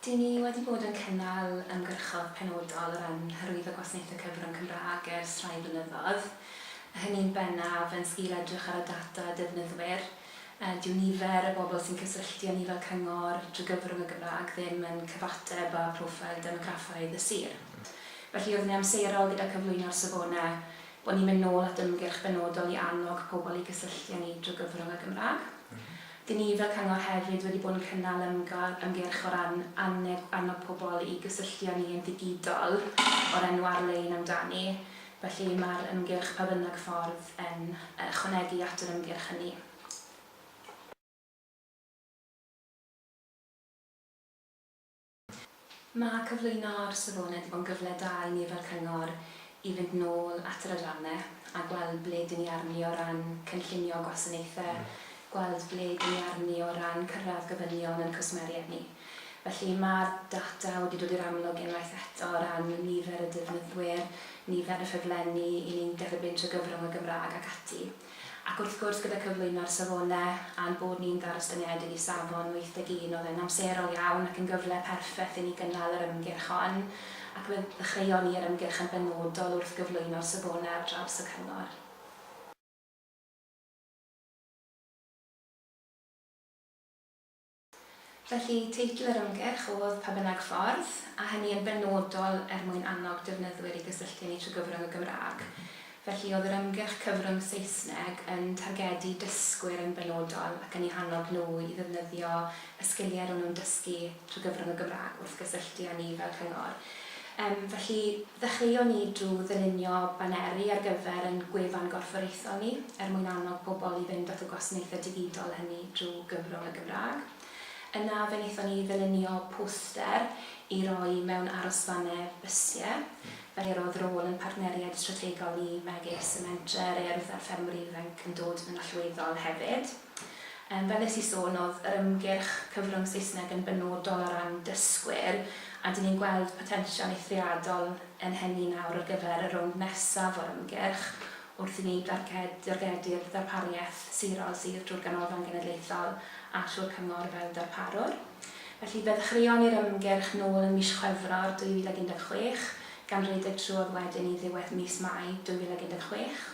Dŷn ni wedi bod yn cynnal ymgyrchoedd penodol o ran hyrwyddo gwasanaethau cyfrwng Cymraeg ers rhai blynyddoedd, hynny'n bennaf yn sgil edrych ar y data defnyddwyr. Dyw nifer y bobl sy'n cysylltu â ni fel cyngor drwy gyfrwng y Gymraeg ddim yn cyfateb â phroffil demograffaidd y sir. Felly, oeddwn i'n amserol gyda cyflwyno'r safonau bod ni'n mynd nôl at ymgyrch benodol i annog pobl i gysylltu â ni drwy gyfrwng y Gymraeg. Dyn ni fel cyngor hefyd wedi bod yn cynnal ymgyrch ymgyrch o ran annog annog pobl i gysylltu â ni yn ddigidol o'r enw Ar-lein Amdani, felly mae'r ymgyrch Pa Bynnag Ffordd yn ychwanegu at yr ymgyrch hynny. Mae cyflwyno'r safonau 'di bod yn gyfle da i ni fel cyngor i fynd nôl at yr adrannau a gweld ble dyn ni arni o ran cynllunio gwasanaethau, gweld ble dyn ni arni o ran cyrraedd gofynion ein cwsmeriaid ni. Felly, mae'r data wedi dod i'r amlwg unwaith eto o ran nifer y defnyddwyr, nifer y ffurflenni 'y ni'n derbyn trwy gyfrwng y Gymraeg ac ati. Ac wrth gwrs gyda cyflwyno'r safonau a'n bod ni'n ddarostyngedig i safon 81 oedd e'n amserol iawn ac yn gyfle perffeth i ni gynnal yr ymgyrch hon ac fe ddechreuon ni yr ymgyrch yn benodol wrth gyflwyno'r safonau ar draws y cyngor. Felly, teitl yr ymgyrch oedd Pa Bynnag Ffordd, a hynny yn benodol er mwyn annog defnyddwyr i gysylltu â ni trwy gyfrwng y Gymraeg. Felly, oedd yr ymgyrch cyfrwng Saesneg yn targedu dysgwyr yn benodol ac yn eu hannog nhw i ddefnyddio y sgiliau ro'n nhw'n dysgu trwy gyfrwng y Gymraeg wrth gysylltu â ni fel cyngor. Yym, felly, ddechreuon ni drwy ddylunio baneri ar gyfer ein gwefan gorfforaethol ni, er mwyn annog pobl i fynd at y gwasanaethau digidol hynny drwy Gymro y Gymraeg. Yna, fe wnaethon ni ddylunio poster i roi mewn arosfannau bysiau, felly roedd rôl ein partneriaid strategol ni megis y Mentrau, yr Urdd a'r Ffermwr Ifanc yn dod yn allweddol hefyd. Fel wnes i sôn, oedd yr ymgyrch cyfrwng Saesneg yn benodol o ran dysgwyr, a dyn ni'n gweld potensial eithriadol yn hynny nawr ar gyfer y rownd nesaf o'r ymgyrch, wrth i ni dargedu'r ddarpariaeth sirol sydd drwy'r Ganolfan Genedlaethol a thrwy'r Cyngor fel darparwr. Felly, fe ddechreuon ni'r ymgyrch nôl yn mis Chwefror 2016, gan redeg trwodd wedyn i ddiwedd mis Mai 2016.